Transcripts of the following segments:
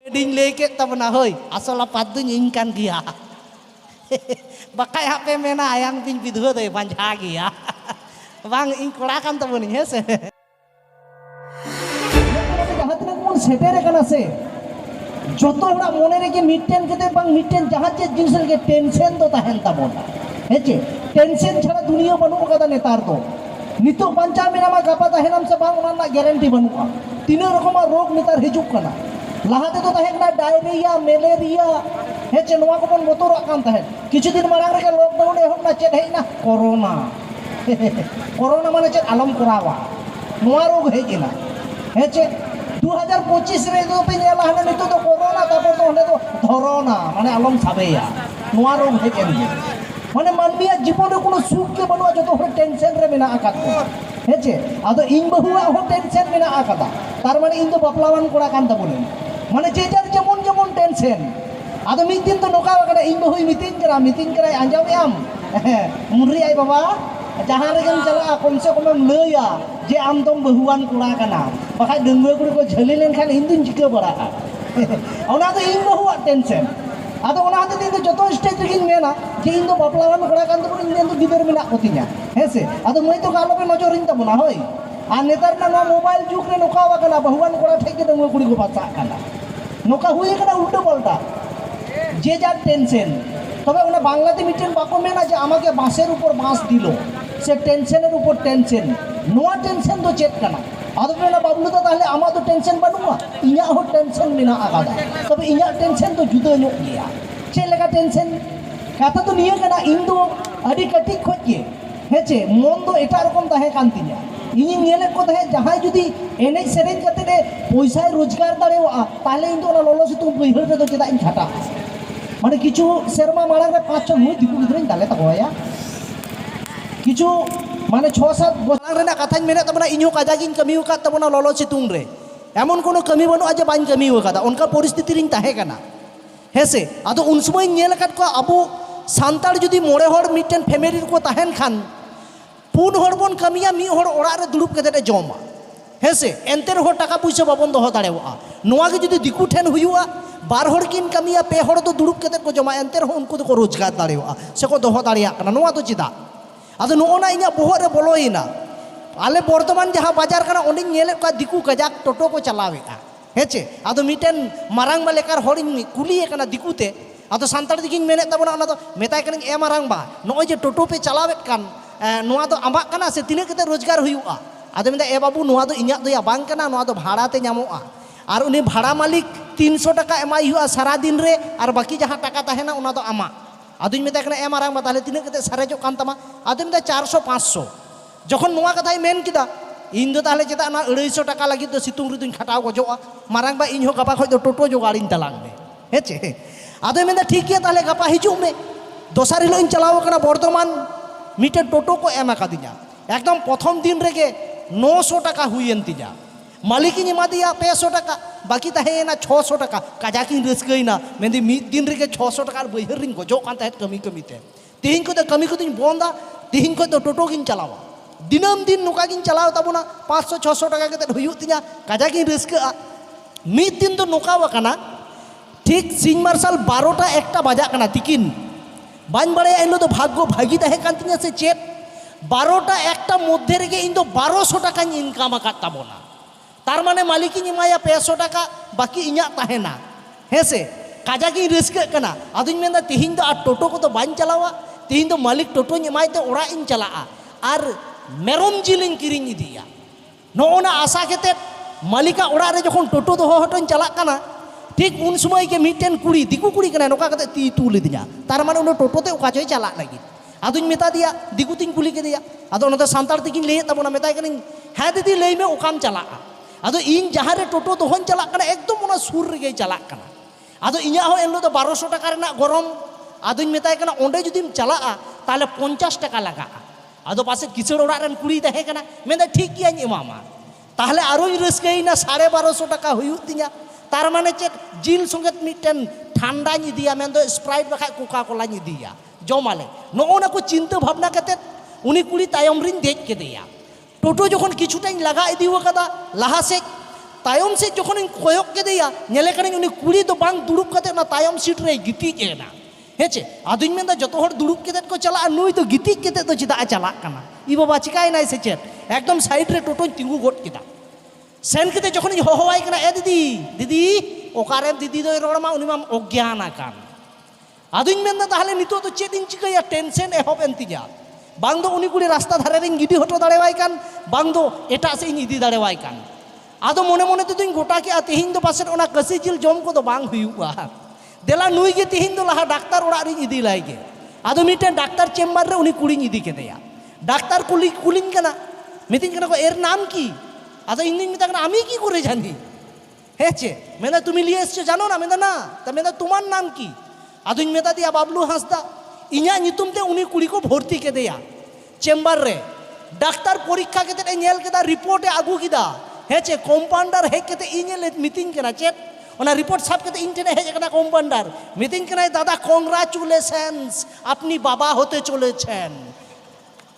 ᱟᱹᱰᱤᱧ ᱞᱟᱹᱭ ᱠᱮᱫ ᱛᱟᱵᱚᱱᱟ ᱦᱳᱭ ᱟᱥᱚᱞ ᱟᱯᱟᱛ ᱫᱩᱧ ᱤᱧ ᱠᱟᱱ ᱜᱮᱭᱟ ᱵᱟᱠᱷᱟᱡ ᱦᱟᱸᱜ ᱯᱮ ᱢᱮᱱᱟ ᱟᱭᱟᱝ ᱵᱤᱧ ᱵᱤᱫᱷᱩᱣᱟᱹ ᱫᱚᱭ ᱵᱟᱸᱡᱷᱟ ᱜᱮᱭᱟ ᱵᱟᱝ ᱤᱧ ᱠᱚᱲᱟ ᱠᱟᱱ ᱛᱟᱵᱚᱱᱤᱧ ᱦᱮᱸ ᱥᱮ ᱡᱟᱦᱟᱸ ᱛᱤᱱᱟᱹᱜ ᱵᱚᱱ ᱥᱮᱴᱮᱨ ᱟᱠᱟᱱᱟ ᱥᱮ ᱡᱚᱛᱚ ᱦᱚᱲᱟᱜ ᱢᱚᱱᱮ ᱨᱮᱜᱮ ᱢᱤᱫᱴᱮᱱ ᱠᱟᱛᱮ ᱵᱟᱝ ᱢᱤᱫᱴᱮᱱ ᱡᱟᱦᱟᱸ ᱪᱮᱫ ᱡᱤᱱᱤᱥ ᱨᱮᱜᱮ ᱴᱮᱱᱥᱮᱱ ᱫᱚ ᱛᱟᱦᱮᱱ ᱛᱟᱵᱚᱱᱟ ᱦᱮᱸ ᱪᱮ ᱴᱮᱱᱥᱮᱱ ᱪᱷᱟᱲᱟ ᱫᱩᱱᱤᱭᱟᱹ ᱵᱟᱹᱱᱩᱜ ᱟᱠᱟᱫᱟ ᱱᱮᱛᱟᱨ ᱫᱚ ᱱᱤᱛᱚᱜ ᱵᱟᱧᱪᱟᱣ ᱢᱮᱱᱟᱢᱟ ᱜᱟᱯᱟ ᱛᱟᱦᱮᱱᱟᱢ ᱥᱮ ᱵᱟᱝ ᱚᱱᱟ ᱨᱮᱱᱟᱜ ᱜᱮᱨᱮᱱᱴᱤ ᱵᱟᱹᱱᱩᱜᱼᱟ ᱛᱤᱱᱟᱹᱜ ᱨᱚᱠᱚᱢᱟᱜ ᱨᱳᱜᱽ ᱱᱮᱛᱟᱨ ᱦᱤᱡᱩᱜ ᱠᱟᱱᱟ ᱞᱟᱦᱟ ᱛᱮᱫᱚ ᱛᱟᱦᱮᱸ ᱠᱟᱱᱟ ᱰᱟᱭᱨᱤᱭᱟ ᱢᱮᱞᱮᱨᱤᱭᱟ ᱦᱮᱸ ᱪᱮ ᱱᱚᱣᱟ ᱠᱚᱵᱚᱱ ᱵᱚᱛᱚᱨᱟᱜ ᱠᱟᱱ ᱛᱟᱦᱮᱸᱫ ᱠᱤᱪᱷᱩ ᱫᱤᱱ ᱢᱟᱲᱟᱝ ᱨᱮᱜᱮ ᱞᱚᱠᱰᱟᱣᱩᱱ ᱮᱦᱚᱵ ᱮᱱᱟ ᱪᱮᱫ ᱦᱮᱡ ᱮᱱᱟ ᱠᱚᱨᱳᱱᱟ ᱠᱚᱨᱳᱱᱟ ᱢᱟᱱᱮ ᱪᱮᱫ ᱟᱞᱚᱢ ᱠᱚᱨᱟᱣᱟ ᱱᱚᱣᱟ ᱨᱳᱜᱽ ᱦᱮᱡ ᱮᱱᱟ ᱦᱮᱸ ᱪᱮ ᱫᱩ ᱦᱟᱡᱟᱨ ᱯᱚᱸᱪᱤᱥ ᱨᱮ ᱫᱚ ᱯᱮ ᱧᱮᱞᱟ ᱦᱟᱱᱮ ᱱᱤᱛᱚᱜ ᱫᱚ ᱠᱚᱨᱳᱱᱟ ᱛᱟᱨᱯᱚᱨ ᱫᱚ ᱦᱟᱸᱰᱮ ᱫᱚ ᱫᱷᱚᱨᱚᱱᱟ ᱢᱟᱱᱮ ᱟᱞᱚᱢ ᱥᱟᱵᱮᱭᱟ ᱱᱚᱣᱟ ᱨᱳᱜᱽ ᱦᱮᱡ ᱮᱱ ᱜᱮ ᱢᱟᱱᱮ ᱢᱟᱹᱱᱢᱤᱭᱟᱜ ᱡᱤᱵᱚᱱ ᱨᱮ ᱠᱳᱱᱳ ᱥᱩᱠ ᱜᱮ ᱵᱟᱹᱱᱩᱜᱼᱟ ᱡᱚᱛᱚ ᱦᱚᱲ ᱴᱮᱱᱥᱮᱱ ᱨᱮ ᱢᱮᱱᱟᱜ ᱟᱠᱟᱫ ᱠᱚᱣᱟ ᱦᱮᱸ ᱪᱮ ᱟᱫᱚ ᱤᱧ ᱵᱟᱹᱦᱩᱣᱟᱜ ᱦᱚᱸ ᱴᱮᱱᱥᱮᱱ ᱢᱮᱱᱟᱜ ᱟᱠᱟᱫᱟ ᱛᱟᱨ ᱢᱟᱱᱮ ᱤᱧ ᱫᱚ ᱵᱟᱯᱞᱟᱣᱟᱱ ᱠᱚᱲᱟ ᱠᱟᱱ ᱛᱟᱵᱚᱱᱟᱹᱧ ᱢᱟᱱᱮ ᱡᱮ ᱡᱟᱨ ᱡᱮᱢᱚᱱ ᱡᱮᱢᱚᱱ ᱴᱮᱱᱥᱮᱱ ᱟᱫᱚ ᱢᱤᱫ ᱫᱤᱱ ᱫᱚ ᱱᱚᱝᱠᱟ ᱟᱠᱟᱱᱟ ᱤᱧ ᱵᱟᱹᱦᱩᱭ ᱢᱤᱛᱟᱹᱧ ᱠᱟᱱᱟ ᱢᱤᱛᱟᱹᱧ ᱠᱟᱱᱟᱭ ᱟᱸᱡᱚᱢᱮᱜ ᱟᱢ ᱢᱩᱱᱨᱤ ᱟᱡ ᱵᱟᱵᱟ ᱡᱟᱦᱟᱸ ᱨᱮᱜᱮᱢ ᱪᱟᱞᱟᱜᱼᱟ ᱠᱚᱢ ᱥᱮ ᱠᱚᱢᱮᱢ ᱞᱟᱹᱭᱟ ᱡᱮ ᱟᱢ ᱫᱚᱢ ᱵᱟᱹᱦᱩᱣᱟᱱ ᱠᱚᱲᱟ ᱠᱟᱱᱟ ᱵᱟᱠᱷᱟᱡ ᱰᱟᱺᱜᱩᱣᱟᱹ ᱠᱩᱲᱤ ᱠᱚ ᱡᱷᱟᱹᱞᱤ ᱞᱮᱱᱠᱷᱟᱱ ᱤᱧ ᱫᱩᱧ ᱪᱤᱠᱟᱹ ᱵᱟᱲᱟᱜᱼᱟ ᱚᱱᱟ ᱫᱚ ᱤᱧ ᱵᱟᱹᱦᱩᱣᱟᱜ ᱴᱮᱱᱥᱮᱱ ᱟᱫᱚ ᱚᱱᱟ ᱦᱚᱛᱮᱡ ᱛᱮ ᱤᱧ ᱫᱚ ᱡᱚᱛᱚ ᱥᱴᱮᱡᱽ ᱨᱮᱜᱤᱧ ᱢᱮᱱᱟ ᱡᱮ ᱤᱧ ᱫᱚ ᱵᱟᱯᱞᱟᱣᱟᱱ ᱠᱚᱲᱟ ᱠᱟᱱ ᱛᱟᱵᱚᱱ ᱤᱧ ᱨᱮᱱ ᱫᱚ ᱜᱤᱫᱟᱹᱨ ᱢᱮᱱᱟᱜ ᱠᱚᱛᱤᱧᱟ ᱦᱮᱸ ᱥᱮ ᱟᱫᱚ ᱢᱟᱹᱭ ᱛᱟᱠᱚ ᱟᱞᱚᱯᱮ ᱱᱚᱡᱚᱨᱤᱧ ᱛᱟᱵᱚᱱᱟ ᱦᱳᱭ ᱟᱨ ᱱᱮᱛᱟᱨ ᱨᱮᱱᱟᱜ ᱱᱚᱣᱟ ᱢᱳᱵᱟᱭᱤᱞ ᱡᱩᱜᱽ ᱨᱮ ᱱᱚᱝᱠᱟ ᱟᱠᱟᱱᱟ ᱵᱟᱹᱦᱩᱣᱟᱱ ᱠᱚᱲᱟ ᱴᱷᱮᱡ ᱜᱮ ᱰᱟᱺᱜᱩᱣᱟᱹ ᱠᱩᱲᱤ ᱠᱚ ᱵᱟᱥᱟᱜ ᱠᱟᱱᱟ ᱱᱚᱝᱠᱟ ᱦᱩᱭ ᱠᱟᱱᱟ ᱩᱞᱴᱟᱹ ᱯᱟᱞᱴᱟ ᱡᱮ ᱡᱟᱨ ᱴᱮᱱᱥᱮᱱ ᱛᱚᱵᱮ ᱚᱱᱟ ᱵᱟᱝᱞᱟ ᱛᱮ ᱢᱤᱫᱴᱮᱱ ᱵᱟᱠᱚ ᱢᱮᱱᱟ ᱡᱮ ᱟᱢᱟᱠᱮ ᱵᱟᱥᱮᱨ ᱩᱯᱚᱨ ᱵᱟᱥ ᱫᱤᱞᱳ ᱥᱮ ᱴᱮᱱᱥᱮᱱᱮᱨ ᱩᱯᱚᱨ ᱴᱮᱱᱥᱮᱱ ᱱᱚᱣᱟ ᱴᱮᱱᱥᱮᱱ ᱫᱚ ᱪᱮᱫ ᱠᱟᱱᱟ ᱟᱫᱚ ᱢᱮᱱᱟ ᱵᱟᱵᱞᱩ ᱫᱟ ᱛᱟᱦᱞᱮ ᱟᱢᱟᱜ ᱫᱚ ᱴᱮᱱᱥᱮᱱ ᱵᱟᱹᱱᱩᱜᱼᱟ ᱤᱧᱟᱹᱜ ᱦᱚᱸ ᱴᱮᱱᱥᱮᱱ ᱢᱮᱱᱟᱜ ᱟᱠᱟᱫᱟ ᱛᱚᱵᱮ ᱤᱧᱟᱹᱜ ᱴᱮᱱᱥᱮᱱ ᱫᱚ ᱡᱩᱫᱟᱹ ᱧᱚᱜ ᱜᱮᱭᱟ ᱪᱮᱫ ᱞᱮᱠᱟ ᱴᱮᱱᱥᱮᱱ ᱠᱟᱛᱷᱟ ᱫᱚ ᱱᱤᱭᱟᱹ ᱠᱟᱱᱟ ᱤᱧ ᱫᱚ ᱟᱹᱰᱤ ᱠᱟᱹᱴᱤᱡ ᱠᱷᱚᱡ ᱜᱮ ᱦᱮᱸᱪᱮ ᱢᱚᱱ ᱫᱚ ᱮᱴᱟᱜ ᱨᱚᱠᱚᱢ ᱛᱟᱦᱮᱸ ᱠᱟᱱ ᱛᱤᱧᱟ ᱤᱧᱤᱧ ᱧᱮᱞᱮᱫ ᱠᱚ ᱛᱟᱦᱮᱸᱫ ᱡᱟᱦᱟᱸᱭ ᱡᱩᱫᱤ ᱮᱱᱮᱡ ᱥᱮᱨᱮᱧ ᱠᱟᱛᱮᱫ ᱮ ᱯᱚᱭᱥᱟᱭ ᱨᱳᱡᱽᱜᱟᱨ ᱫᱟᱲᱮᱭᱟᱜᱼᱟ ᱛᱟᱦᱞᱮ ᱤᱧ ᱫᱚ ᱚᱱᱟ ᱞᱚᱞᱚ ᱥᱤᱛᱩᱝ ᱵᱟᱹᱭᱦᱟᱹᱲ ᱨᱮᱫᱚ ᱪᱮᱫᱟᱜ ᱤᱧ ᱠᱷᱟᱴᱟᱜᱼᱟ ᱢᱟᱱᱮ ᱠᱤᱪᱷᱩ ᱥᱮᱨᱢᱟ ᱢᱟᱲᱟᱝ ᱨᱮ ᱯᱟᱸᱪ ᱪᱷᱚ ᱱᱩᱭ ᱫᱤᱠᱩ ᱜᱤᱫᱽᱨᱟᱹᱧ ᱫᱟᱞᱮ ᱛᱟᱠᱚᱣᱟᱭᱟ ᱠᱤᱪᱷᱩ ᱢᱟᱱᱮ ᱪᱷᱚ ᱥᱟᱛ ᱵᱚᱪᱷᱚᱨ ᱨᱮᱱᱟᱜ ᱠᱟᱛᱷᱟᱧ ᱢᱮᱱᱮᱫ ᱛᱟᱵᱚᱱᱟ ᱤᱧ ᱦᱚᱸ ᱠᱟᱡᱟᱠ ᱤᱧ ᱠᱟᱹᱢᱤ ᱟᱠᱟᱫ ᱛᱟᱵᱚᱱᱟ ᱞᱚᱞᱚ ᱥᱤᱛᱩᱝ ᱨᱮ ᱮᱢᱚᱱ ᱠᱳᱱᱳ ᱠᱟᱹᱢᱤ ᱵᱟᱹᱱᱩᱜᱼᱟ ᱡᱮ ᱵᱟᱹᱧ ᱠᱟᱹᱢᱤ ᱟᱠᱟᱫᱟ ᱚᱱᱠᱟ ᱯᱚᱨᱤᱥᱛᱷᱤᱛᱤ ᱨᱤᱧ ᱛᱟᱦᱮᱸ ᱠᱟᱱᱟ ᱦᱮᱸ ᱥᱮ ᱟᱫᱚ ᱩᱱ ᱥᱚᱢᱚᱭ ᱧᱮᱞ ᱟᱠᱟᱫ ᱠᱚᱣᱟ ᱟᱵᱚ ᱥᱟᱱᱛᱟᱲ ᱡᱩᱫᱤ ᱢᱚᱬᱮ ᱦᱚᱲ ᱢᱤᱫᱴᱮᱱ ᱯᱷᱮᱢᱮᱞᱤ ᱨᱮᱠᱚ ᱛᱟᱦᱮᱱ ᱠᱷᱟᱱ ᱯᱩᱱ ᱦᱚᱲ ᱵᱚᱱ ᱠᱟᱹᱢᱤᱭᱟ ᱢᱤᱫ ᱦᱚᱲ ᱚᱲᱟᱜ ᱨᱮ ᱫᱩᱲᱩᱵ ᱠᱟᱛᱮᱫ ᱮ ᱡᱚᱢᱟ ᱦᱮᱸᱥᱮ ᱮᱱᱛᱮ ᱨᱮᱦᱚᱸ ᱴᱟᱠᱟ ᱯᱩᱭᱥᱟᱹ ᱵᱟᱵᱚᱱ ᱫᱚᱦᱚ ᱫᱟᱲᱮᱭᱟᱜᱼᱟ ᱱᱚᱣᱟ ᱜᱮ ᱡᱩᱫᱤ ᱫᱤᱠᱩ ᱴᱷᱮᱱ ᱦᱩᱭᱩᱜᱼᱟ ᱵᱟᱨ ᱦᱚᱲ ᱠᱤᱱ ᱠᱟᱹᱢᱤᱭᱟ ᱯᱮ ᱦᱚᱲ ᱫᱚ ᱫᱩᱲᱩᱵ ᱠᱟᱛᱮ ᱠᱚ ᱡᱚᱢᱟ ᱮᱱᱛᱮ ᱨᱮᱦᱚᱸ ᱩᱱᱠᱩ ᱫᱚᱠᱚ ᱨᱳᱡᱽᱜᱟᱨ ᱫᱟᱲᱮᱭᱟᱜᱼᱟ ᱥᱮᱠᱚ ᱫᱚᱦᱚ ᱫᱟᱲᱮᱭᱟᱜ ᱠᱟᱱᱟ ᱱᱚᱣᱟ ᱫᱚ ᱪᱮᱫᱟᱜ ᱟᱫᱚ ᱱᱚᱜᱼᱚᱱᱟ ᱤᱧᱟᱹᱜ ᱵᱚᱦᱚᱜ ᱨᱮ ᱵᱚᱞᱚᱭᱮᱱᱟ ᱟᱞᱮ ᱵᱚᱨᱫᱷᱚᱢᱟᱱ ᱡᱟᱦᱟᱸ ᱵᱟᱡᱟᱨ ᱠᱟᱱᱟ ᱚᱸᱰᱮᱧ ᱧᱮᱞᱮᱫ ᱠᱚᱣᱟ ᱫᱤᱠᱩ ᱠᱟᱡᱟᱠ ᱴᱳᱴᱳ ᱠᱚ ᱪᱟᱞᱟᱣᱮᱫᱼᱟ ᱦᱮᱸᱪᱮ ᱟᱫᱚ ᱢᱤᱫᱴᱮᱱ ᱢᱟᱨᱟᱝ ᱵᱟ ᱞᱮᱠᱟᱨ ᱦᱚᱲᱤᱧ ᱠᱩᱞᱤᱭᱮ ᱠᱟᱱᱟ ᱫᱤᱠᱩᱛᱮ ᱟᱫᱚ ᱥᱟᱱᱛᱟᱲ ᱛᱮᱜᱮᱧ ᱢᱮᱱᱮᱫ ᱛᱟᱵᱚᱱᱟ ᱚᱱᱟ ᱫᱚ ᱢᱮᱛᱟᱭ ᱠᱟᱹᱱᱟᱹᱧ ᱮ ᱢᱟᱨᱟᱝ ᱵᱟ ᱱᱚᱜᱼᱚᱭ ᱡᱮ ᱴᱳᱴᱳ ᱯᱮ ᱪᱟᱞᱟᱣᱮᱫ ᱠᱟᱱ ᱱᱚᱣᱟ ᱫᱚ ᱟᱢᱟᱜ ᱠᱟᱱᱟ ᱥᱮ ᱛᱤᱱᱟᱹᱜ ᱠᱟᱛᱮ ᱨᱳᱡᱽᱜᱟᱨ ᱦᱩᱭᱩᱜᱼᱟ ᱟᱫᱚ ᱢᱮᱱᱫᱟ ᱮ ᱵᱟᱹᱵᱩ ᱱᱚᱣᱟ ᱫᱚ ᱤᱧᱟᱹᱜ ᱫᱚᱭᱟ ᱵᱟᱝ ᱠᱟᱱᱟ ᱱᱚᱣᱟ ᱫᱚ ᱵᱷᱟᱲᱟ ᱛᱮ ᱧᱟᱢᱚᱜᱼᱟ ᱟᱨ ᱩᱱᱤ ᱵᱷᱟᱲᱟ ᱢᱟᱹᱞᱤᱠ ᱛᱤᱱᱥᱚ ᱴᱟᱠᱟ ᱮᱢᱟᱭ ᱦᱩᱭᱩᱜᱼᱟ ᱥᱟᱨᱟ ᱫᱤᱱ ᱨᱮ ᱟᱨ ᱵᱟᱹᱠᱤ ᱡᱟᱦᱟᱸ ᱴᱟᱠᱟ ᱛᱟᱦᱮᱱᱟ ᱚᱱᱟ ᱫᱚ ᱟᱢᱟᱜ ᱟᱫᱚᱧ ᱢᱮᱛᱟᱭ ᱠᱟᱱᱟ ᱮ ᱢᱟᱨᱟᱝ ᱵᱟ ᱛᱟᱦᱞᱮ ᱛᱤᱱᱟᱹᱜ ᱠᱟᱛᱮ ᱥᱟᱨᱮᱡᱚᱜ ᱠᱟᱱ ᱛᱟᱢᱟ ᱟᱫᱚᱭ ᱢᱮᱱᱫᱟ ᱪᱟᱨᱥᱚ ᱯᱟᱸᱪᱥᱚ ᱡᱚᱠᱷᱚᱱ ᱱᱚᱣᱟ ᱠᱟᱛᱷᱟᱭ ᱢᱮᱱ ᱠᱮᱫᱟ ᱤᱧ ᱫᱚ ᱛᱟᱦᱞᱮ ᱪᱮᱫᱟᱜ ᱱᱚᱣᱟ ᱟᱹᱲᱟᱹᱭᱥᱚ ᱴᱟᱠᱟ ᱞᱟᱹᱜᱤᱫ ᱫᱚ ᱥᱤᱛᱩᱝ ᱨᱮᱫᱚᱧ ᱠᱷᱟᱴᱟᱣ ᱜᱚᱡᱚᱜᱼᱟ ᱢᱟᱨᱟᱝ ᱵᱟ ᱤᱧ ᱦᱚᱸ ᱜᱟᱯᱟ ᱠᱷᱚᱡ ᱫᱚ ᱴᱳᱴᱳ ᱡᱚᱜᱟᱲᱤᱧ ᱛᱟᱞᱟᱝ ᱢᱮ ᱦᱮᱸ ᱪᱮ ᱟᱫᱚᱭ ᱢᱮᱱᱫᱟ ᱴᱷᱤᱠ ᱜᱮᱭᱟ ᱛᱟᱦᱞᱮ ᱜᱟᱯᱟ ᱦᱤᱡᱩᱜ ᱢᱮ ᱫᱚᱥᱟᱨ ᱦᱤᱞᱳᱜ ᱤᱧ ᱪᱟᱞᱟᱣ ᱟᱠᱟᱱᱟ ᱵᱚᱨᱫᱷᱚᱢᱟᱱ ᱢᱤᱫᱴᱮᱱ ᱴᱳᱴᱳ ᱠᱚ ᱮᱢ ᱟᱠᱟᱫᱤᱧᱟ ᱮᱠᱫᱚᱢ ᱯᱨᱚᱛᱷᱚᱢ ᱫᱤᱱ ᱨᱮᱜᱮ ᱱᱚᱥᱚ ᱴᱟᱠᱟ ᱦᱩᱭᱮᱱ ᱛᱤᱧᱟ ᱢᱟᱹᱞᱤᱠ ᱤᱧ ᱮᱢᱟᱫᱮᱭᱟ ᱯᱮ ᱥᱚ ᱴᱟᱠᱟ ᱵᱟᱹᱠᱤ ᱛᱟᱦᱮᱸᱭᱮᱱᱟ ᱪᱷᱚ ᱥᱚ ᱴᱟᱠᱟ ᱠᱟᱡᱟᱠ ᱤᱧ ᱨᱟᱹᱥᱠᱟᱹᱭᱮᱱᱟ ᱢᱮᱱᱫᱟᱹᱧ ᱢᱤᱫ ᱫᱤᱱ ᱨᱮᱜᱮ ᱪᱷᱚ ᱥᱚ ᱴᱟᱠᱟ ᱵᱟᱹᱭᱦᱟᱹᱲ ᱨᱤᱧ ᱜᱚᱡᱚᱜ ᱠᱟᱱ ᱛᱟᱦᱮᱸᱫ ᱠᱟᱹᱢᱤ ᱠᱟᱹᱢᱤᱛᱮ ᱛᱮᱦᱮᱧ ᱠᱷᱚᱱ ᱫᱚ ᱠᱟᱹᱢᱤ ᱠᱚᱫᱚᱧ ᱵᱚᱱᱫᱟ ᱛᱮᱦᱮᱧ ᱠᱷᱚᱱ ᱫᱚ ᱴᱳᱴᱳ ᱜᱤᱧ ᱪᱟᱞᱟᱣᱟ ᱫᱤᱱᱟᱹᱢ ᱫᱤᱱ ᱱᱚᱝᱠᱟ ᱜᱤᱧ ᱪᱟᱞᱟᱣ ᱛᱟᱵᱚᱱᱟ ᱯᱟᱸᱪᱥᱚ ᱪᱷᱚᱥᱚ ᱴᱟᱠᱟ ᱠᱟᱛᱮᱫ ᱦᱩᱭᱩᱜ ᱛᱤᱧᱟ ᱠᱟᱡᱟᱠ ᱤᱧ ᱨᱟᱹᱥᱠᱟᱹᱜᱼᱟ ᱢᱤᱫ ᱫᱤᱱ ᱫᱚ ᱱᱚᱝᱠᱟ ᱟᱠᱟᱱᱟ ᱴᱷᱤᱠ ᱥᱤᱧ ᱢᱟᱨᱥᱟᱞ ᱵᱟᱨᱚᱴᱟ ᱮᱠᱴᱟ ᱵᱟᱡᱟᱜ ᱠᱟᱱᱟ ᱛᱤᱠᱤᱱ ᱵᱟᱹᱧ ᱵᱟᱲᱟᱭᱟ ᱮᱱᱦᱤᱞᱳᱜ ᱫᱚ ᱵᱷᱟᱜᱽᱜᱚ ᱵᱷᱟᱹᱜᱤ ᱛᱟᱦᱮᱸ ᱠᱟᱱ ᱛᱤᱧᱟ ᱥᱮ ᱪᱮᱫ ᱵᱟᱨᱚᱴᱟ ᱮᱠᱴᱟ ᱢᱚᱫᱽᱫᱷᱮ ᱨᱮᱜᱮ ᱤᱧ ᱫᱚ ᱵᱟᱨᱚᱥᱚ ᱴᱟᱠᱟᱧ ᱤᱱᱠᱟᱢ ᱟᱠᱟᱫ ᱛᱟᱵᱚᱱᱟ ᱛᱟᱨ ᱢᱟᱱᱮ ᱢᱟᱹᱞᱤᱠ ᱤᱧ ᱮᱢᱟᱭᱟ ᱯᱮ ᱥᱚ ᱴᱟᱠᱟ ᱵᱟᱹᱠᱤ ᱤᱧᱟᱹᱜ ᱛᱟᱦᱮᱱᱟ ᱦᱮᱸ ᱥᱮ ᱠᱟᱡᱟᱠ ᱤᱧ ᱨᱟᱹᱥᱠᱟᱹᱜ ᱠᱟᱱᱟ ᱟᱫᱚᱧ ᱢᱮᱱᱫᱟ ᱛᱮᱦᱮᱧ ᱫᱚ ᱟᱨ ᱴᱳᱴᱳ ᱠᱚᱫᱚ ᱵᱟᱹᱧ ᱪᱟᱞᱟᱣᱟ ᱛᱮᱦᱮᱧ ᱫᱚ ᱢᱟᱹᱞᱤᱠ ᱴᱳᱴᱳᱧ ᱮᱢᱟᱭ ᱛᱮ ᱚᱲᱟᱜ ᱤᱧ ᱪᱟᱞᱟᱜᱼᱟ ᱟᱨ ᱢᱮᱨᱚᱢ ᱡᱤᱞ ᱤᱧ ᱠᱤᱨᱤᱧ ᱤᱫᱤᱭᱟ ᱱᱚᱜᱼᱚᱱᱟ ᱟᱥᱟ ᱠᱟᱛᱮᱫ ᱢᱟᱹᱞᱤᱠᱟᱜ ᱚᱲᱟᱜ ᱨᱮ ᱡᱚᱠᱷᱚᱱ ᱴᱳᱴᱳ ᱫᱚᱦᱚ ᱦᱚᱴᱚᱧ ᱪᱟᱞᱟᱜ ᱠᱟᱱᱟ ᱴᱷᱤᱠ ᱩᱱ ᱥᱚᱢᱚᱭ ᱜᱮ ᱢᱤᱫᱴᱮᱱ ᱠᱩᱲᱤ ᱫᱤᱠᱩ ᱠᱩᱲᱤ ᱠᱟᱱᱟᱭ ᱱᱚᱝᱠᱟ ᱠᱟᱛᱮᱫ ᱛᱤ ᱛᱩᱞ ᱟᱹᱫᱤᱧᱟ ᱛᱟᱨ ᱢᱟᱱᱮ ᱩᱱᱤ ᱴᱳᱴᱳ ᱛᱮ ᱚᱠᱟ ᱪᱚᱭ ᱪᱟᱞᱟᱜ ᱞᱟᱹᱜᱤᱫ ᱟᱫᱚᱧ ᱢᱮᱛᱟ ᱫᱮᱭᱟ ᱫᱤᱠᱩ ᱛᱤᱧ ᱠᱩᱞᱤ ᱠᱮᱫᱮᱭᱟ ᱟᱫᱚ ᱚᱱᱟ ᱫᱚ ᱥᱟᱱᱛᱟᱲ ᱛᱮᱜᱤᱧ ᱞᱟᱹᱭᱮᱫ ᱛᱟᱵᱚᱱᱟ ᱢᱮᱛᱟᱭ ᱠᱟᱹᱱᱟᱹᱧ ᱦᱮᱸ ᱫᱤᱫᱤ ᱞᱟᱹᱭ ᱢᱮ ᱚᱠᱟᱢ ᱪᱟᱞᱟᱜᱼᱟ ᱟᱫᱚ ᱤᱧ ᱡᱟᱦᱟᱸ ᱨᱮ ᱴᱳᱴᱳ ᱫᱚᱦᱚᱧ ᱪᱟᱞᱟᱜ ᱠᱟᱱᱟ ᱮᱠᱫᱚᱢ ᱚᱱᱟ ᱥᱩᱨ ᱨᱮᱜᱮᱭ ᱪᱟᱞᱟᱜ ᱠᱟᱱᱟ ᱟᱫᱚ ᱤᱧᱟᱹᱜ ᱦᱚᱸ ᱮᱱᱦᱤᱞᱳᱜ ᱫᱚ ᱵᱟᱨᱚᱥᱚ ᱴᱟᱠᱟ ᱨᱮᱱᱟᱜ ᱜᱚᱨᱚᱢ ᱟᱫᱚᱧ ᱢᱮᱛᱟᱭ ᱠᱟᱱᱟ ᱚᱸᱰᱮ ᱡᱩᱫᱤᱢ ᱪᱟᱞᱟᱜᱼᱟ ᱛᱟᱦᱚᱞᱮ ᱯᱚᱧᱪᱟᱥ ᱴᱟᱠᱟ ᱞᱟᱜᱟᱜᱼᱟ ᱟᱫᱚ ᱯᱟᱥᱮᱡ ᱠᱤᱥᱟᱹᱬ ᱚᱲᱟᱜ ᱨᱮᱱ ᱠᱩᱲᱤᱭ ᱛᱟᱦᱮᱸ ᱠᱟᱱᱟ ᱢᱮᱱᱫᱟᱭ ᱴᱷᱤᱠ ᱜᱮᱭᱟᱧ ᱮᱢᱟᱢᱟ ᱛᱟᱦᱚᱞᱮ ᱟᱨᱚᱧ ᱨᱟᱹᱥᱠᱟᱹᱭᱮᱱᱟ ᱥᱟᱲᱮ ᱵᱟᱨᱚᱥᱚ ᱴᱟᱠᱟ ᱦᱩᱭᱩᱜ ᱛᱤᱧᱟ ᱛᱟᱨ ᱢᱟᱱᱮ ᱪᱮᱫ ᱡᱤᱞ ᱥᱚᱸᱜᱮ ᱢᱤᱫᱴᱮᱱ ᱴᱷᱟᱱᱰᱟᱧ ᱤᱫᱤᱭᱟ ᱢᱮᱱᱫᱚ ᱥᱯᱨᱟᱭᱤᱴ ᱵᱟᱠᱷᱟᱡ ᱠᱳᱠᱟ ᱠᱳᱞᱟᱧ ᱤᱫᱤᱭᱟ ᱡᱚᱢᱟᱞᱮ ᱱᱚᱜᱼᱚ ᱱᱟ ᱠᱚ ᱪᱤᱱᱛᱟᱹ ᱵᱷᱟᱵᱽᱱᱟ ᱠᱟᱛᱮᱫ ᱩᱱᱤ ᱠᱩᱲᱤ ᱛᱟᱭᱚᱢ ᱨᱤᱧ ᱫᱮᱡ ᱠᱮᱫᱮᱭᱟ ᱴᱳᱴᱳ ᱡᱚᱠᱷᱚᱱ ᱠᱤᱪᱷᱩᱴᱟᱧ ᱞᱟᱜᱟ ᱤᱫᱤ ᱟᱠᱟᱫᱟ ᱞᱟᱦᱟ ᱥᱮᱫ ᱛᱟᱭᱚᱢ ᱥᱮᱫ ᱡᱚᱠᱷᱚᱱᱤᱧ ᱠᱚᱭᱚᱜ ᱠᱮᱫᱮᱭᱟ ᱧᱮᱞᱮ ᱠᱟᱹᱱᱟᱹᱧ ᱩᱱᱤ ᱠᱩᱲᱤ ᱫᱚ ᱵᱟᱝ ᱫᱩᱲᱩᱵ ᱠᱟᱛᱮᱫ ᱚᱱᱟ ᱛᱟᱭᱚᱢ ᱥᱤᱴ ᱨᱮᱭ ᱜᱤᱛᱤᱡ ᱮᱱᱟ ᱦᱮᱸᱪᱮ ᱟᱫᱚᱧ ᱢᱮᱱᱫᱟ ᱡᱚᱛᱚ ᱦᱚᱲ ᱫᱩᱲᱩᱵ ᱠᱟᱛᱮᱫ ᱠᱚ ᱪᱟᱞᱟᱜᱼᱟ ᱱᱩᱭ ᱫᱚ ᱜᱤᱛᱤᱡ ᱠᱟᱛᱮᱫ ᱫᱚ ᱪᱮᱫᱟᱜ ᱮ ᱪᱟᱞᱟᱜ ᱠᱟᱱᱟ ᱤ ᱵᱟᱵᱟ ᱪᱤᱠᱟᱭᱮᱱᱟᱭ ᱥᱮ ᱪᱮᱫ ᱮᱠᱫᱚᱢ ᱥᱟᱭᱤᱰ ᱨᱮ ᱴᱳᱴᱳᱧ ᱛᱤᱸᱜᱩ ᱜᱚᱫ ᱠᱮᱫᱟ ᱥᱮᱱ ᱠᱟᱛᱮ ᱡᱚᱠᱷᱚᱱᱤᱧ ᱦᱚᱦᱚᱣᱟᱭ ᱠᱟᱱᱟ ᱮ ᱫᱤᱫᱤ ᱫᱤᱫᱤ ᱚᱠᱟᱨᱮ ᱫᱤᱫᱤ ᱫᱚᱭ ᱨᱚᱲ ᱢᱟ ᱩᱱᱤ ᱢᱟᱢ ᱚᱜᱽᱜᱭᱟᱱ ᱟᱠᱟᱱ ᱟᱫᱚᱧ ᱢᱮᱱᱫᱟ ᱛᱟᱦᱞᱮ ᱱᱤᱛᱚᱜ ᱫᱚ ᱪᱮᱫ ᱤᱧ ᱪᱤᱠᱟᱹᱭᱟ ᱴᱮᱱᱥᱮᱱ ᱮᱦᱚᱵ ᱮᱱ ᱛᱤᱧᱟ ᱵᱟᱝ ᱫᱚ ᱩᱱᱤ ᱠᱩᱲᱤ ᱨᱟᱥᱛᱟ ᱫᱷᱟᱨᱮ ᱨᱤᱧ ᱜᱤᱰᱤ ᱦᱚᱴᱚ ᱫᱟᱲᱮᱣᱟᱭ ᱠᱟᱱ ᱵᱟᱝ ᱫᱚ ᱮᱴᱟᱜ ᱥᱮᱫ ᱤᱧ ᱤᱫᱤ ᱫᱟᱲᱮᱣᱟᱭ ᱠᱟᱱ ᱟᱫᱚ ᱢᱚᱱᱮ ᱢᱚᱱᱮ ᱛᱮᱫᱚᱧ ᱜᱚᱴᱟ ᱠᱮᱜᱼᱟ ᱛᱮᱦᱮᱧ ᱫᱚ ᱯᱟᱥᱮᱡ ᱚᱱᱟ ᱠᱟᱹᱥᱤ ᱡᱤᱞ ᱡᱚᱢ ᱠᱚᱫᱚ ᱵᱟᱝ ᱦᱩᱭᱩᱜᱼᱟ ᱫᱮᱞᱟ ᱱᱩᱭ ᱜᱮ ᱛᱮᱦᱮᱧ ᱫᱚ ᱞᱟᱦᱟ ᱰᱟᱠᱛᱟᱨ ᱚᱲᱟᱜ ᱨᱤᱧ ᱤᱫᱤ ᱞᱟᱭ ᱜᱮ ᱟᱫᱚ ᱢᱤᱫᱴᱮᱱ ᱰᱟᱠᱛᱟᱨ ᱪᱮᱢᱵᱟᱨ ᱨᱮ ᱩᱱᱤ ᱠᱩᱲᱤᱧ ᱤᱫᱤ ᱠᱮᱫᱮᱭᱟ ᱰᱟᱠᱛᱟᱨ ᱠᱩᱞᱤ ᱠᱩᱞᱤᱧ ᱠᱟᱱᱟ ᱢᱤᱛᱟᱹᱧ ᱠᱟᱱᱟ ᱠᱚ ᱮᱨ ᱱᱟᱢ ᱠᱤ ᱟᱫᱚ ᱤᱧ ᱫᱩᱧ ᱢᱮᱛᱟᱭ ᱠᱟᱱᱟ ᱟᱢᱤ ᱠᱤ ᱠᱚᱨᱮ ᱡᱟᱱᱤ ᱦᱮᱸ ᱪᱮ ᱢᱮᱱᱫᱟ ᱛᱩᱢᱤ ᱞᱤᱭᱮ ᱮᱥᱪᱚ ᱡᱟᱱᱚ ᱱᱟ ᱢᱮᱱᱫᱟ ᱱᱟ ᱛᱟ ᱢᱮᱱᱫᱟ ᱛᱩᱢᱟᱨ ᱱᱟᱢ ᱠᱤ ᱟᱫᱚᱧ ᱢᱮᱛᱟ ᱫᱮᱭᱟ ᱵᱟᱵᱞᱩ ᱦᱟᱸᱥᱫᱟ ᱤᱧᱟᱹᱜ ᱧᱩᱛᱩᱢ ᱛᱮ ᱩᱱᱤ ᱠᱩᱲᱤ ᱠᱚ ᱵᱷᱚᱨᱛᱤ ᱠᱮᱫᱮᱭᱟ ᱪᱮᱢᱵᱟᱨ ᱨᱮ ᱰᱟᱠᱛᱟᱨ ᱯᱚᱨᱤᱠᱠᱷᱟ ᱠᱟᱛᱮ ᱮ ᱧᱮᱞ ᱠᱮᱫᱟ ᱨᱤᱯᱳᱨᱴ ᱮ ᱟᱹᱜᱩ ᱠᱮᱫᱟ ᱦᱮᱸ ᱪᱮ ᱠᱚᱢᱯᱟᱣᱩᱱᱰᱟᱨ ᱦᱮᱡ ᱠᱟᱛᱮ ᱤᱧ ᱮ ᱢᱤᱛᱟᱹᱧ ᱠᱟᱱᱟ ᱪᱮᱫ ᱚᱱᱟ ᱨᱤᱯᱳᱨᱴ ᱥᱟᱵ ᱠᱟᱛᱮ ᱤᱧ ᱴᱷᱮᱱ ᱦᱮᱡ ᱟᱠᱟᱱᱟ ᱠᱚᱢᱯᱟᱣᱩᱱᱰᱟᱨ ᱢᱤᱛᱟᱹᱧ ᱠᱟᱱᱟᱭ ᱫᱟᱫᱟ ᱠᱚᱝᱜᱽᱨᱟᱪᱩᱞᱮᱥᱚᱱᱥ ᱟᱯᱱᱤ ᱵᱟᱵᱟ ᱦᱚᱛᱮ ᱪᱚᱞᱮᱪᱷᱮᱱ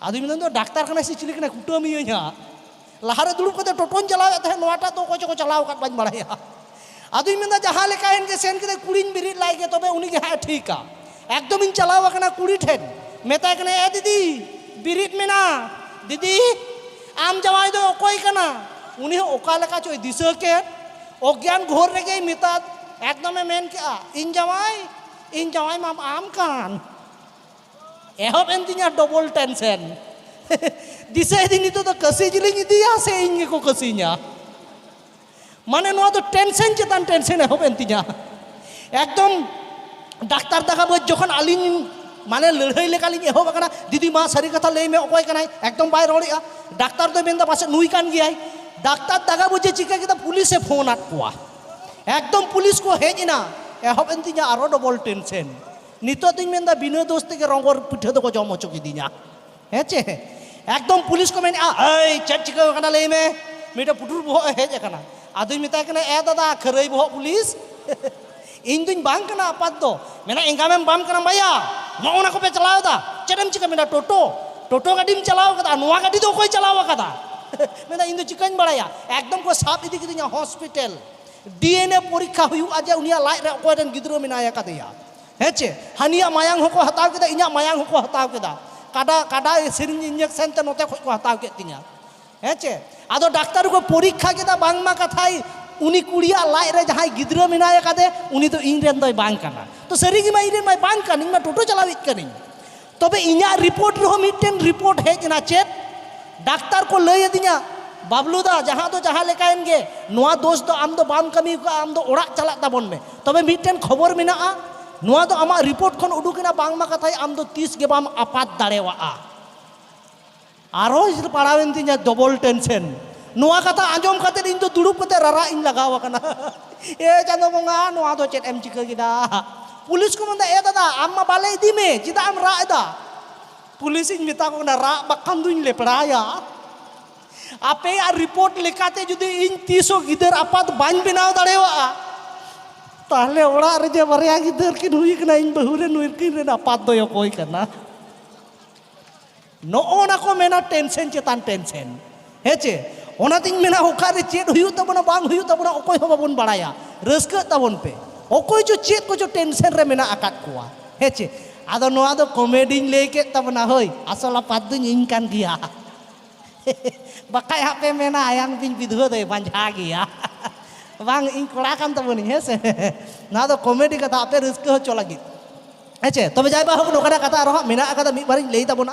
ᱟᱫᱚ ᱢᱮᱱᱫᱟ ᱫᱚ ᱰᱟᱠᱛᱟᱨ ᱠᱟᱱᱟᱭ ᱥᱮ ᱪᱤᱞᱤ ᱠᱟᱱᱟᱭ ᱠᱩᱴᱟᱹᱢᱤᱭᱟᱹᱧ ᱦᱟᱸᱜ ᱞᱟᱦᱟᱨᱮ ᱫᱩᱲᱩᱵ ᱠᱟᱛᱮ ᱴᱚᱴᱚᱧ ᱪᱟᱞᱟᱣᱮᱫ ᱛᱟᱦᱮᱸᱫ ᱱᱚᱣᱟᱴᱟᱜ ᱫᱚ ᱚᱠᱚᱭ ᱪᱚᱠᱚ ᱪᱟᱞᱟᱣ ᱟᱠᱟᱫ ᱵᱟᱹᱧ ᱵᱟᱲᱟᱭᱟ ᱟᱫᱚᱧ ᱢᱮᱱᱫᱟ ᱡᱟᱦᱟᱸ ᱞᱮᱠᱟᱭᱮᱱ ᱜᱮ ᱥᱮᱱ ᱠᱟᱛᱮ ᱠᱩᱲᱤᱧ ᱵᱮᱨᱮᱫ ᱞᱟᱭ ᱜᱮ ᱛᱚᱵᱮ ᱩᱱᱤ ᱜᱮ ᱦᱟᱸᱜ ᱴᱷᱤᱠᱟ ᱮᱠᱫᱚᱢᱤᱧ ᱪᱟᱞᱟᱣ ᱟᱠᱟᱱᱟ ᱠᱩᱲᱤ ᱴᱷᱮᱱ ᱢᱮᱛᱟᱭ ᱠᱟᱱᱟ ᱮ ᱫᱤᱫᱤ ᱵᱮᱨᱮᱫ ᱢᱮᱱᱟ ᱫᱤᱫᱤ ᱟᱢ ᱡᱟᱶᱟᱭ ᱫᱚ ᱚᱠᱚᱭ ᱠᱟᱱᱟ ᱩᱱᱤ ᱦᱚᱸ ᱚᱠᱟ ᱞᱮᱠᱟ ᱪᱚᱭ ᱫᱤᱥᱟᱹ ᱠᱮᱫ ᱚᱜᱽᱜᱟᱱ ᱜᱷᱳᱨ ᱨᱮᱜᱮᱭ ᱢᱮᱛᱟᱫ ᱮᱠᱫᱚᱢᱮ ᱢᱮᱱ ᱠᱮᱜᱼᱟ ᱤᱧ ᱡᱟᱶᱟᱭ ᱤᱧ ᱡᱟᱶᱟᱭ ᱢᱟᱢ ᱟᱢ ᱠᱟᱱ ᱮᱦᱚᱵ ᱮᱱ ᱛᱤᱧᱟ ᱰᱚᱵᱚᱞ ᱴᱮᱱᱥᱮᱱ ᱫᱤᱥᱟᱹᱭᱮᱫᱤᱧ ᱱᱤᱛᱚᱜ ᱫᱚ ᱠᱟᱹᱥᱤ ᱡᱤᱞᱤᱧ ᱤᱫᱤᱭᱟ ᱥᱮ ᱤᱧ ᱜᱮᱠᱚ ᱠᱟᱹᱥᱤᱧᱟ ᱢᱟᱱᱮ ᱱᱚᱣᱟ ᱫᱚ ᱴᱮᱱᱥᱮᱱ ᱪᱮᱛᱟᱱ ᱴᱮᱱᱥᱮᱱ ᱮᱦᱚᱵ ᱮᱱ ᱛᱤᱧᱟ ᱮᱠᱫᱚᱢ ᱰᱟᱠᱛᱟᱨ ᱫᱟᱠᱟ ᱵᱟᱹᱫᱽ ᱡᱚᱠᱷᱚᱱ ᱟᱹᱞᱤᱧ ᱢᱟᱱᱮ ᱞᱟᱹᱲᱦᱟᱹᱭ ᱞᱮᱠᱟᱞᱤᱧ ᱮᱦᱚᱵ ᱟᱠᱟᱱᱟ ᱫᱤᱫᱤ ᱢᱟ ᱥᱟᱹᱨᱤ ᱠᱟᱛᱷᱟ ᱞᱟᱹᱭ ᱢᱮ ᱚᱠᱚᱭ ᱠᱟᱱᱟᱭ ᱮᱠᱫᱚᱢ ᱵᱟᱭ ᱨᱚᱲᱮᱜᱼᱟ ᱰᱟᱠᱛᱟᱨ ᱫᱚᱭ ᱢᱮᱱᱫᱟ ᱯᱟᱥᱮᱡ ᱱᱩᱭ ᱠᱟᱱ ᱜᱮᱭᱟᱭ ᱰᱟᱠᱛᱟᱨ ᱫᱟᱜᱟ ᱵᱩᱡᱷᱮ ᱪᱤᱠᱟᱹ ᱠᱮᱫᱟ ᱯᱩᱞᱤᱥᱮ ᱯᱷᱳᱱ ᱟᱫ ᱠᱚᱣᱟ ᱮᱠᱫᱚᱢ ᱯᱩᱞᱤᱥ ᱠᱚ ᱦᱮᱡ ᱮᱱᱟ ᱮᱦᱚᱵ ᱮᱱ ᱛᱤᱧᱟ ᱟᱨᱚ ᱰᱚᱵᱚᱞ ᱴᱮᱱᱥᱮᱱ ᱱᱤᱛᱚᱜ ᱫᱚᱧ ᱢᱮᱱᱫᱟ ᱵᱤᱱᱟᱹ ᱫᱳᱥ ᱛᱮᱜᱮ ᱨᱚᱝᱜᱚᱨ ᱯᱤᱴᱷᱟᱹ ᱫᱚᱠᱚ ᱡᱚᱢ ᱦᱚᱪᱚ ᱠᱤᱫᱤᱧᱟ ᱦᱮᱸ ᱪᱮ ᱮᱠᱫᱚᱢ ᱯᱩᱞᱤᱥ ᱠᱚ ᱢᱮᱱᱮᱜᱼᱟ ᱮᱭ ᱪᱮᱫ ᱪᱤᱠᱟᱹ ᱟᱠᱟᱱᱟ ᱞᱟᱹᱭ ᱢᱮ ᱢᱤᱫᱴᱮᱱ ᱯᱩᱴᱩᱨ ᱵᱚᱦᱚᱜ ᱮ ᱦᱮᱡ ᱟᱠᱟᱱᱟ ᱟᱫᱚᱧ ᱢᱮᱛᱟᱭ ᱠᱟᱱᱟ ᱮ ᱫᱟᱫᱟ ᱠᱷᱟᱹᱨᱟᱹᱭ ᱵᱚᱦᱚᱜ ᱯᱩᱞᱤᱥ ᱤᱧ ᱫᱩᱧ ᱵᱟᱝ ᱠᱟᱱᱟ ᱟᱯᱟᱛ ᱫᱚ ᱢᱮᱱᱟ ᱮᱸᱜᱟᱢᱮᱢ ᱵᱟᱢ ᱠᱟᱱᱟ ᱵᱟᱭᱟ ᱱᱚᱜᱼᱚ ᱱᱟ ᱠᱚᱯᱮ ᱪᱟᱞᱟᱣ ᱮᱫᱟ ᱪᱮᱫ ᱮᱢ ᱪᱤᱠᱟᱹ ᱢᱮᱱᱟ ᱴᱳᱴᱳ ᱴᱳᱴᱳ ᱜᱟᱹᱰᱤᱢ ᱪᱟᱞᱟᱣ ᱠᱟᱫᱟ ᱱᱚᱣᱟ ᱜᱟᱹᱰᱤ ᱫᱚ ᱚᱠᱚᱭ ᱪᱟᱞᱟᱣ ᱟᱠᱟᱫᱟ ᱢᱮᱱᱟ ᱤᱧ ᱫᱚ ᱪᱤᱠᱟᱹᱧ ᱵᱟᱲᱟᱭᱟ ᱮᱠᱫᱚᱢ ᱠᱚ ᱥᱟᱵ ᱤᱫᱤ ᱠᱤᱫᱤᱧᱟ ᱦᱚᱥᱯᱤᱴᱟᱞ ᱰᱤᱮᱱᱮ ᱯᱚᱨᱤᱠᱷᱟ ᱦᱩᱭᱩᱜᱼᱟ ᱡᱮ ᱩᱱᱤᱭᱟᱜ ᱞᱟᱡ ᱨᱮ ᱚᱠᱚᱭ ᱨᱮᱱ ᱜᱤᱫᱽᱨᱟᱹ ᱢᱮᱱᱟᱭ ᱟᱠᱟᱫᱮᱭᱟ ᱦᱮᱸ ᱪᱮ ᱦᱟᱹᱱᱤᱭᱟᱜ ᱢᱟᱭᱟᱝ ᱦᱚᱸᱠᱚ ᱦᱟᱛᱟᱣ ᱠᱮᱫᱟ ᱤᱧᱟᱹᱜ ᱢᱟᱭᱟᱝ ᱦᱚᱸᱠᱚ ᱦᱟᱛᱟᱣ ᱠᱮᱫᱟ ᱠᱟᱰᱟ ᱠᱟᱰᱟ ᱥᱤᱨᱤᱧ ᱤᱧᱡᱮᱠᱥᱮᱱ ᱛᱮ ᱱᱚᱛᱮ ᱠᱷᱚᱡ ᱠᱚ ᱦᱟᱛᱟᱣ ᱠᱮᱫ ᱛᱤᱧᱟ ᱦᱮᱸ ᱪᱮ ᱟᱫᱚ ᱰᱟᱠᱛᱟᱨ ᱠᱚ ᱯᱚᱨᱤᱠᱷᱟ ᱠᱮᱫᱟ ᱵᱟᱝᱢᱟ ᱠᱟᱛᱷᱟᱭ ᱩᱱᱤ ᱠᱩᱲᱤᱭᱟᱜ ᱞᱟᱡ ᱨᱮ ᱡᱟᱦᱟᱸᱭ ᱜᱤᱫᱽᱨᱟᱹ ᱢᱮᱱᱟᱭ ᱟᱠᱟᱫᱮ ᱩᱱᱤ ᱫᱚ ᱤᱧ ᱨᱮᱱ ᱫᱚᱭ ᱵᱟᱝ ᱠᱟᱱᱟ ᱛᱚ ᱥᱟᱹᱨᱤ ᱜᱮᱢᱟ ᱤᱧ ᱨᱮᱱ ᱢᱟᱭ ᱵᱟᱝ ᱠᱟᱱ ᱤᱧ ᱢᱟ ᱴᱳᱴᱳ ᱪᱟᱞᱟᱣᱤᱡ ᱠᱟᱹᱱᱟᱹᱧ ᱛᱚᱵᱮ ᱤᱧᱟᱹᱜ ᱨᱤᱯᱳᱨᱴ ᱨᱮᱦᱚᱸ ᱢᱤᱫᱴᱮᱱ ᱨᱤᱯᱳᱨᱴ ᱦᱮᱡ ᱮᱱᱟ ᱪᱮᱫ ᱰᱟᱠᱛᱟᱨ ᱠᱚ ᱞᱟᱹᱭ ᱟᱹᱫᱤᱧᱟ ᱵᱟᱵᱞᱩ ᱫᱟ ᱡᱟᱦᱟᱸ ᱫᱚ ᱡᱟᱦᱟᱸ ᱞᱮᱠᱟᱭᱮᱱ ᱜᱮ ᱱᱚᱣᱟ ᱫᱳᱥ ᱫᱚ ᱟᱢ ᱫᱚ ᱵᱟᱢ ᱠᱟᱹᱢᱤ ᱠᱟᱜᱼᱟ ᱟᱢ ᱫᱚ ᱚᱲᱟᱜ ᱪᱟᱞᱟᱜ ᱛᱟᱵᱚᱱ ᱢᱮ ᱛᱚᱵᱮ ᱢᱤᱫᱴᱮᱱ ᱠᱷᱚᱵᱚᱨ ᱢᱮᱱᱟᱜᱼᱟ ᱱᱚᱣᱟ ᱫᱚ ᱟᱢᱟᱜ ᱨᱤᱯᱳᱨᱴ ᱠᱷᱚᱱ ᱩᱰᱩᱠᱮᱱᱟ ᱵᱟᱝᱢᱟ ᱠᱟᱛᱷᱟᱡ ᱟᱢ ᱫᱚ ᱛᱤᱥ ᱜᱮ ᱵᱟᱢ ᱟᱯᱟᱛ ᱫᱟᱲᱮᱣᱟᱜᱼᱟ ᱟᱨᱦᱚᱸ ᱤᱧ ᱯᱟᱲᱟᱣᱮᱱ ᱛᱤᱧᱟ ᱰᱚᱵᱚᱞ ᱴᱮᱱᱥᱮᱱ ᱱᱚᱣᱟ ᱠᱟᱛᱷᱟ ᱟᱸᱡᱚᱢ ᱠᱟᱛᱮ ᱤᱧ ᱫᱚ ᱫᱩᱲᱩᱵ ᱠᱟᱛᱮ ᱨᱟᱨᱟᱜ ᱤᱧ ᱞᱟᱜᱟᱣ ᱟᱠᱟᱱᱟ ᱮ ᱪᱟᱸᱫᱚ ᱵᱚᱸᱜᱟ ᱱᱚᱣᱟ ᱫᱚ ᱪᱮᱫ ᱮᱢ ᱪᱤᱠᱟᱹ ᱠᱮᱫᱟ ᱯᱩᱞᱤᱥ ᱠᱚ ᱢᱮᱱᱫᱟ ᱮ ᱫᱟᱫᱟ ᱟᱢ ᱢᱟ ᱵᱟᱞᱮ ᱤᱫᱤ ᱢᱮ ᱪᱮᱫᱟᱜ ᱮᱢ ᱨᱟᱜ ᱮᱫᱟ ᱯᱩᱞᱤᱥ ᱤᱧ ᱢᱮᱛᱟ ᱠᱚ ᱠᱟᱱᱟ ᱨᱟᱜ ᱵᱟᱠᱷᱟᱱ ᱫᱩᱧ ᱞᱮᱯᱲᱟᱭᱟ ᱟᱯᱮᱭᱟᱜ ᱨᱤᱯᱳᱨᱴ ᱞᱮᱠᱟᱛᱮ ᱡᱩᱫᱤ ᱤᱧ ᱛᱤᱥ ᱦᱚᱸ ᱜᱤᱫᱟᱹᱨ ᱟᱯᱟᱛ ᱵᱟᱹᱧ ᱵᱮᱱᱟᱣ ᱫᱟᱲᱮᱭᱟᱜᱼᱟ ᱛᱟᱦᱞᱮ ᱚᱲᱟᱜ ᱨᱮ ᱡᱮ ᱵᱟᱨᱭᱟ ᱜᱤᱫᱟᱹᱨ ᱠᱤᱱ ᱦᱩᱭ ᱠᱟᱱᱟ ᱤᱧ ᱵᱟᱹᱦᱩ ᱨᱮ ᱱᱩᱭ ᱠᱤᱱ ᱨᱮᱱ ᱟᱯᱟᱛ ᱫᱚᱭ ᱚᱠᱚᱭ ᱠᱟᱱᱟ ᱱᱚᱜᱼᱚ ᱱᱟ ᱠᱚ ᱢᱮᱱᱟ ᱴᱮᱱᱥᱮᱱ ᱪᱮᱛᱟᱱ ᱴᱮᱱᱥᱮᱱ ᱦᱮᱸ ᱪᱮ ᱚᱱᱟᱛᱤᱧ ᱢᱮᱱᱟ ᱚᱠᱟᱨᱮ ᱪᱮᱫ ᱦᱩᱭᱩᱜ ᱛᱟᱵᱚᱱᱟ ᱵᱟᱝ ᱦᱩᱭᱩᱜ ᱛᱟᱵᱚᱱᱟ ᱚᱠᱚᱭ ᱦᱚᱸ ᱵᱟᱵᱚᱱ ᱵᱟᱲᱟᱭᱟ ᱨᱟᱹᱥᱠᱟᱹᱜ ᱛᱟᱵᱚᱱ ᱯᱮ ᱚᱠᱚᱭ ᱪᱚ ᱪᱮᱫ ᱠᱚᱪᱚ ᱴᱮᱱᱥᱮᱱ ᱨᱮ ᱢᱮᱱᱟᱜ ᱟᱠᱟᱫ ᱠᱚᱣᱟ ᱦᱮᱸ ᱪᱮ ᱟᱫᱚ ᱱᱚᱣᱟ ᱫᱚ ᱠᱚᱢᱮᱰᱤᱧ ᱞᱟᱹᱭ ᱠᱮᱫ ᱛᱟᱵᱚᱱᱟ ᱦᱳᱭ ᱟᱥᱚᱞ ᱟᱯᱟᱛ ᱫᱚᱧ ᱤᱧ ᱠᱟᱱ ᱜᱮᱭᱟ ᱵᱟᱠᱷᱟᱡ ᱦᱟᱸᱜ ᱯᱮ ᱢᱮᱱᱟ ᱟᱭᱟᱝ ᱵᱤᱧ ᱵᱤᱫᱷᱩᱣᱟᱹ ᱫᱚᱭ ᱵᱟᱸᱡᱷᱟ ᱜᱮᱭᱟ ᱵᱟᱝ ᱤᱧ ᱠᱚᱲᱟ ᱠᱟᱱ ᱛᱟᱵᱚᱱᱤᱧ ᱦᱮᱸ ᱥᱮ ᱱᱚᱣᱟ ᱫᱚ ᱠᱚᱢᱮᱰᱤ ᱠᱟᱛᱷᱟ ᱟᱯᱮ ᱨᱟᱹᱥᱠᱟᱹ ᱦᱚᱪᱚ ᱞᱟᱹᱜᱤᱫ ᱦᱮᱸᱪᱮ ᱛᱚᱵᱮ ᱡᱟᱭ ᱵᱟ ᱦᱳᱠ ᱱᱚᱝᱠᱟᱱᱟᱜ ᱠᱟᱛᱷᱟ ᱟᱨᱦᱚᱸ ᱦᱟᱸᱜ ᱢᱮᱱᱟᱜ ᱟᱠᱟᱫᱟ ᱢᱤᱫ ᱵᱟᱨᱤᱧ ᱞᱟᱹᱭ ᱛᱟᱵᱚᱱᱟ